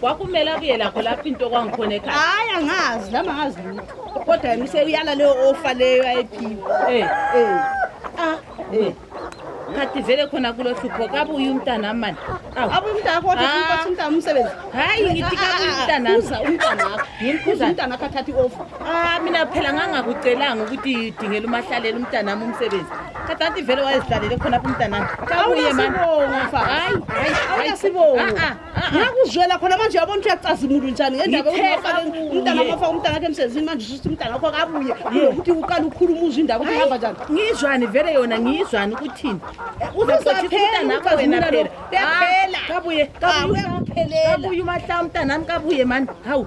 kwakumele akuye lakho lapho into kwangikhona ekhaya hayi angazi nami angazi lutho kodwa yena useyala leyo ofa leyo ayiphiwa Eh, eh. Ah, eh. khathi vele khona kulo hlupho kabuye umntana mani Awu. abuye umntana wakho kodwa Ah. ufuna ukuthi umntana umsebenzi hayi ngithi kabuye umntana uza umntana wakho Ngimkhuza. umntana wakho athatha i-ofa Ah, mina phela ngangakucelanga ukuthi dingela umahlalela umntanami umsebenzi Katanti vele wayezidlalele khona apha umntanami. Kabuye mani. Awunasibongo mfana. Hayi, hayi, hayi. Awunasibongo. Ah, ah, ah, ah. Ngakuzwela khona manje yabona ukuthi uyacazimula unjani ngendaba Ngithe yokuthi ufake kabuye. umntana wakho afake umntana wakhe emsebenzini manje usho ukuthi umntana wakho akabuye. Ukuthi uqala ukhuluma uzwe indaba ukuthi ihamba njani. ngizwani vele yona ngizwani ukuthini Uzozaphela umntanakho wena ukazimula phela lo. Uyaphela. kabuye Kabuye kabuye umahla umntanami kabuye mani hawu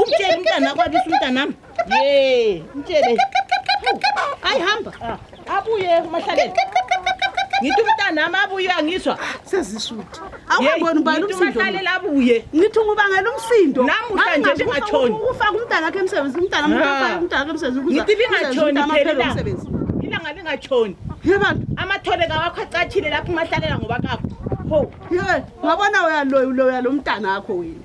umtshele umntana akwabisa umntanami ye mtshele ayi hamba ah, abuye umahlalele ngithi umntanami abuye uyangizwa sezisuthi awubona ubani umsindo abuye ngithi ngubangela umsindo namuhla nje lingatshoni ukufaka umntana wakhe emsebenzi umntana umntana ah. umntana wakhe emsebenzi ngithi lingatshoni phela ilanga lingatshoni yebantu amathole kawakho acatshile lapho umahlalela ngoba kakho Hey, ngabona uyaloya uloya lo mntana wakho wena.